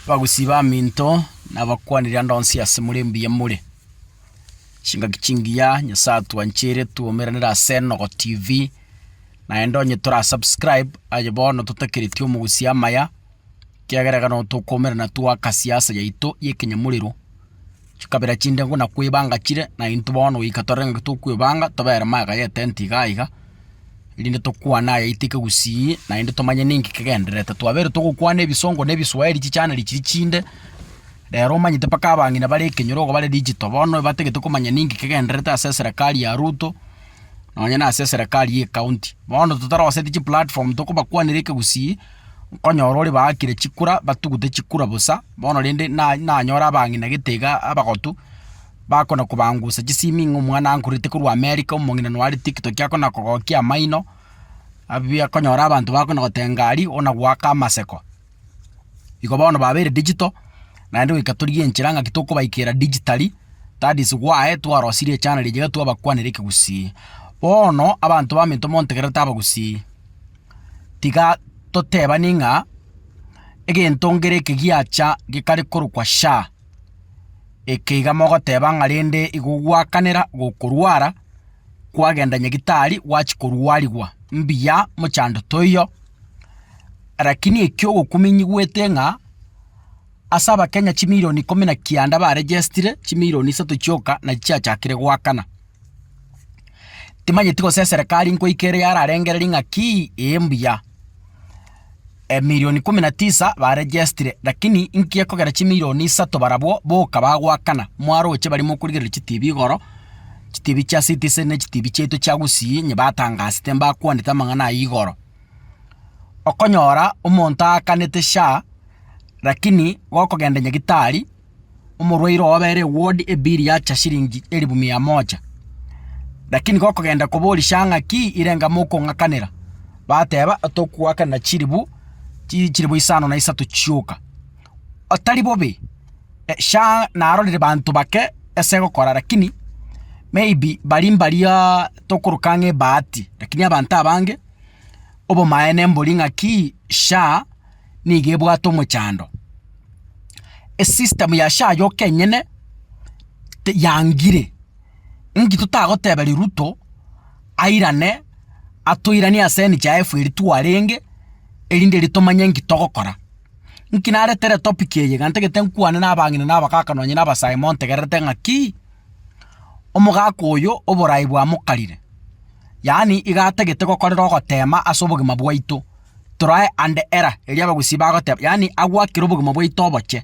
Bagusii baminto, nabakwanire ande onsi ase more mbuya more. Chingaki chingiya, Nyasae atwanchire twoumeranere ase Enogo TV, naende onye tora subscribe aye bono totakereti omogusi amaya, ekiagera ekero nabo tokoumerana twakasia asa yaito y'ekenyamorero. chikabera chinde nguna kwebanga chire, na intwe bono goika tore ngaki tokwebanga, tobere magega y'etenti iga iga, erinde tokwane ayaito ekegusii, naende tomanye ninki kegendererete. Twabeire togokwana ebisongo na ebiswahiri chichaniri chiria chinde, rero omanyete mpaka abang'ina bare ekenyoro igo bare digital, bono batagete komanya ninki kegendererete ase eserekari ya Ruto, nonye na ase eserekari y'ekaunti. Bono totaroseti chiplatform tokobakwanera ekegusii, Nkonyora ore baakire chikura, batugute chikura bosa, bono rende na- nanyore abang'inagete iga abagotu, bakona kobangusa chisimi ng'a omwana ankururete korwa America, omong'ina noyo are tiktok akona kogokia amaino, abuya konyora abanto bakona gotenga ari, ona goaka amaseko. Igo bono babeire digital, naende goika torigie enchera ng'aki tokobaikera digitally, that is why twarosirie echaneli eria iga twabakwanera ekegusii. Bono, abanto baminto montegerere tabagusii. tiga totebanie ng'a egento ngere eke giacha gekare korokwa sha, eke iga mogoteba ng'a rende igo gwakanera gokorwara, kwagenda nyagitari gwachia korwarigwa. Mbuya mochando toiyo, rakini ekio ogokuminyigwete ng'a. Ase Abakenya chimilioni ikomi na kianda baregestire, chimilioni isato chioka nachi chiachakire goakana. Timanyeti gose eserekari nkoika ere yararengere ring'aki ee mbuya. Emilioni ikomi na tisa baregestire, lakini inki ekogera chimilioni isato barabwo boka bagoakana? Mwaroche baria mokorigereria chitibi igoro, chitibi chia Citizen ne chitibi chiaito chia Gusii onye batangasete mbakwanete amang'ana ayio igoro. Okonyora omonto aakanete SHA. Rakini gokogenda nyagitari, omorwaire oo abere eward ebill yacha shilingi elifu mia moja. Rakini gokogenda koborisia ng'a ki irenga mokong'akanera, bateba tokuakanera chilifu chi chilifu isano na isato chioka. Otari bobe, sha narorire banto bake ase gokora rakini maybe bari mbaria tokoroka ang'e ebahati. Rakini abanto abange, obomaene mbori ng'a ki sha. nigo ebwate omochando. Esystem ya SHA yoka enyene te yangire, inki totagoteberia Ruto airane atoiranie ase NHIF eria twarenge, erinde erio tomanye inki togokora. Inki naretere etopic eye, iga ntagete nkwane na abang'ina na abakaka nonye na abasae montegererete ng'akii, omogaka oyo oborai bwamokarire, yaani iga atagete gokorera ogotema ase obogima bwaito. torae ande era, erio abagusii bagoteba, yaani agwakire obogima bwaito oboche.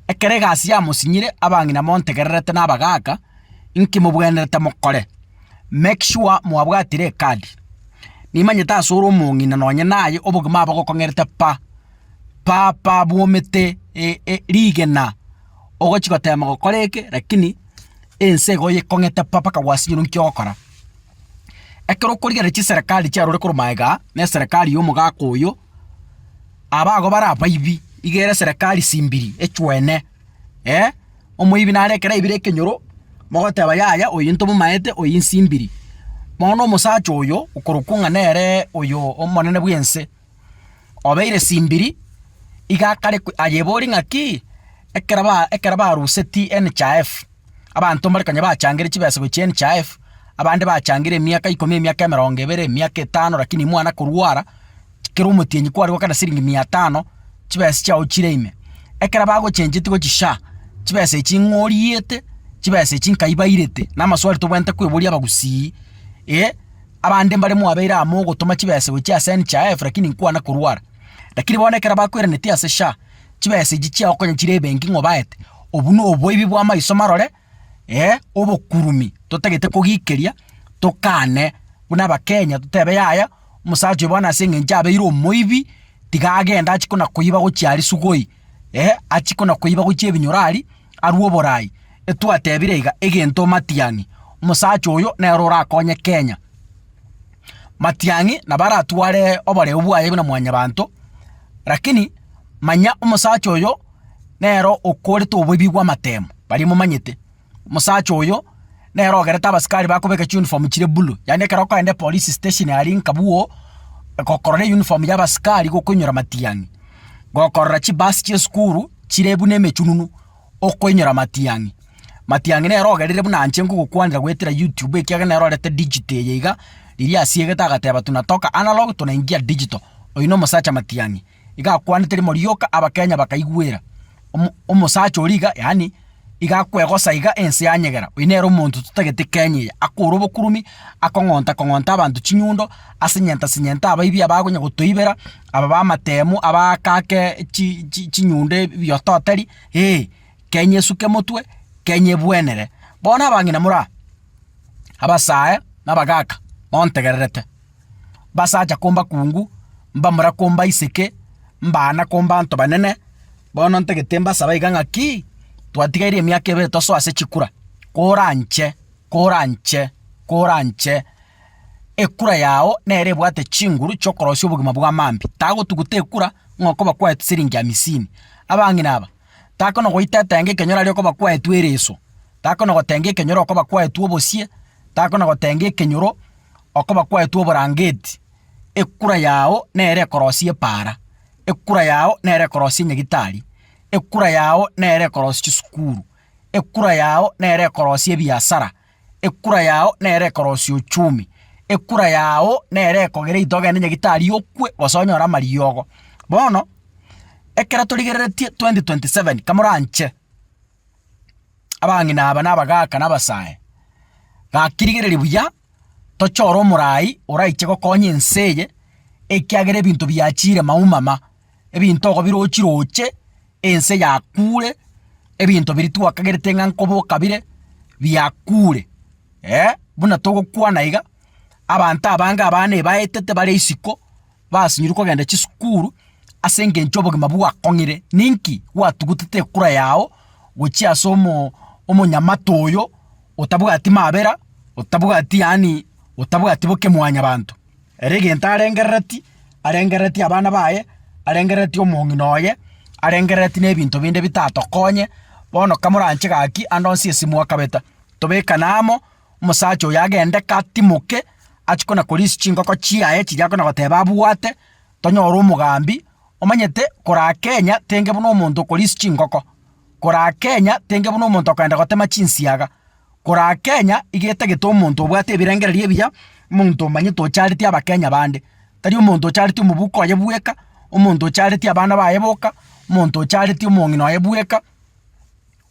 Ekero egasi yamosinyire, abang'ina montegererete na abagaaka, inki mobwenerete mokore? Make sure mwabwatire ekadi. Nimanyete ase ore omong'ina nonye naye obogima abo gokong'erete pa, pa pa bwomete rigena. ogochia gotema gokora eke, rakini ense iga oyekong'ete pa mpaka gwasinyore nki ogokora. Ekero okorigereria chiserekari chiarure korwa maega aa, na eserekari ya omogaka oyo, aba ago bare abaibi, iga ere eserekari simbiri, echwene, eh. Omoibi nare ekero aibire ekenyoro, mogoteba yaya oyo ntomomaete, oyo insimbiri. Bono omosacha oyo, okorokwa ng'a nere oyo omonene bw'ense. obeire simbiri, iga akare ko ayebori ng'aki, ekero ba ekero baruseti NHIF, abanto mbare konya bachangire chibesa gochia NHIF, abande bachangire emiaka ikomi, emiaka emerongo ebere, emiaka etano rakini mwana korwara, chi kera omotienyi kware gokana siringi mia tano, chibesa chiago chire ime. Ekero bagochencheti gochia SHA, chibesa echi ng'o oriete, chibesa echi nkai bairete? Namaswali tobwenerete koeboria abagusii, eh, Abande mbare mwabeire amo ogotoma chibesa gochia ase NHIF lakini nkwana korwara. Lakini bono ekero bakweranetie ase SHA, chibesa echi chiagokonya chire ebenki ng'a obaete. Obwo noboibi bwa maiso marore, eh, obokurumi totagete kogikeria, tokane buna abakenya totebe yaya, omosacha oyo bono ase eng'encho abeire omoibi, tiga agende achi kona koiba gochia aria sugoi. Ee, achie konakoiba gochia ebinyorari, arue oborai. Etwatebire iga egento Matiang'i, omosacha oyo nere orakonye Kenya. Matiang'i nabo aratware oboreu bwaye buna mwanyabanto, rakini manya omosacha oyo nere okorete oboibi bw'amatemo, baria momanyete. Omosacha oyo nere ogerete abasikari bakobeka chiuniform chire bulu. Yaani ekero okogenda epolice station aria nkabwo gokorora eyuniform ya abasikari gokoinyora matiang'i. Gokorora chibasi chia esukuru chire buna emechununu okoinyora matiang'i. Matiang'i nere ogerire buna inche nkogokwanera goetera YouTube ekiagera nere orete digital eye iga riria asiegete agateba tunatoka analog tunaingia digital. Oyio na omosacha matiang'i. Iga akwanete rimo rioka Abakenya bakaigwera. Omosacha oria iga yaani iga akwegosa iga ense yanyegera. Oyo nere omonto totagete Kenya eye. Akore obokuromi, akong'onta kong'onta abanto chinyundo, asenyenta senyenta abaibi abakonya gotoibera, aba bamatemu, abaaka ake chinyundo ebioto tari, ee. Kenya esuke motwe, Kenya ebwenere. Bono abang'ina moraa, abasae na abagaka, montegererete. mbasacha kombakungu, mbamura kombaiseke, mbaana kombaanto banene. Bono ntagete mbasabe iga ng'aki, twatigaire emiaka ebere tosoe ase chikura, koranche, koranche, koranche ekura yao nere ebwate chinguru chi'okorosia obogima bwa mambia. Tagotuguta ekura ng'a okoba kwaete siringi hamisini. Abang'ina aba. takonagoita etenge ekero aria okoba kwaetwe ereso, takonagotenga ekenyoro okoba kwaetwe obosie, takonagotenga ekenyoro okoba kwaetwe oborangeti, ekura yao nere ekorosia epaara, ekura yao nere ekorosia enyagitari, ekura yao nere ekorosia chisukuru, ekura yao nere ekorosia ebiasara, Ekura yao nere ekorosia ochumi, ekura yao nere ekogera eito ogende nyagetari okwe gose onyore amariogo. Bono, ekero torigereretie 2027 kamoranche abang'ina aba na abagaka na abasae, gaki rigereria buya tochore omorai oraiche gokonya ense eye ekiagera ebinto biachire maumama. ebinto ogo birochi roche, ense yakure, ebinto biria twakagerete ng'a nkoboka bire, biakure. Eh, buna togokwana iga, abanto abange abana ebaetete bare isiko, basinyirwe kogenda chisukuru ase engencho obogima bwakong'ire. Ninki? Gwatugutete ekura yao gochia ase omo omonyamate oyo, otabwati mabera, otabwati yaani otabwati boke mwanyabanto. Ere egento arengereretie, arengereretie abana baye, arengereretie omong'ina oye, arengereretie nebinto binde bitatokonye, bono kamoranche gaki ande onsi esimo akabeta. Tobekane amo, omosacha oyo agende katimoke, achie kona korisia chingoko chiaye chiria akona goteba abwate, tonyore omogambi, omanyete koraa Kenya tenge buna omonto okorisia chingoko, koraa Kenya tenge buna omonto okoenda gotema chinsiaga. Koraa Kenya iga etagete omonto obwate ebirengererio ebiya, omonto omanyete ochareti abakenya bande. Tari omonto ochareti omobuko oye bweka, omonto ochareti abana baye boka, omonto ochareti omong'ina oye bweka,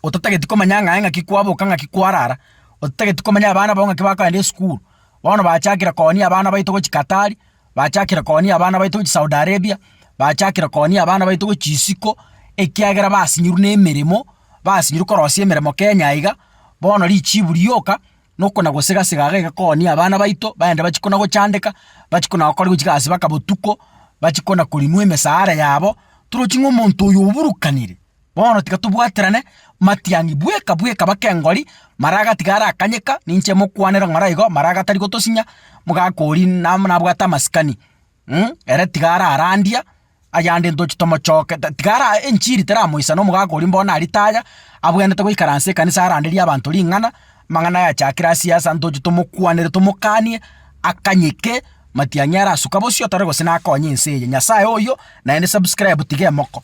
otatageti komanya ng'a aye ng'aki kwaboka ng'aki kwarara, otatageti komanya abana bao ng'aki bakogenda esukuru. Bono bachakire koonia abana baito gochika tari. Bachakire koonia abana baito gochia Saudi Arabia, bachakire koonia abana baito gochia isiko, ekiagera basinyirwe nemeremo, basinyirwe korosia emeremo Kenya aiga, bono richibu rioka, nokona gosega sega iga iga koonia abana baito, baende bachia kona gochandeka, bachia kona gokora gochia gasi baka botuko, bachia kona korinwa emesara yabo, torochi ng'a omonto oyo oburukanire. Bono tiga tobwaterane matiangi bweka bweka bakengori, mara agatiga arakanyeka, ninche mokwanera ng'ora igo, mara agatari gotosinya, mogaka oria nam nabwate amasikani, mh, ere tiga ararandia, ayande ntoche tomochoke, ta tiga ara enchiri teramoisana omogaka oria mbono naritaaya, abwenerete goikaransa ekanisa aranderie abanto ring'ana, amang'ana ayachakire asiasa ntoche tomokwanere tomokanie, akanyeke, matiang'i arasuka bosio tari gose nakonye ense eye. Nyasaye oyio, naende subscribe tiga emoko.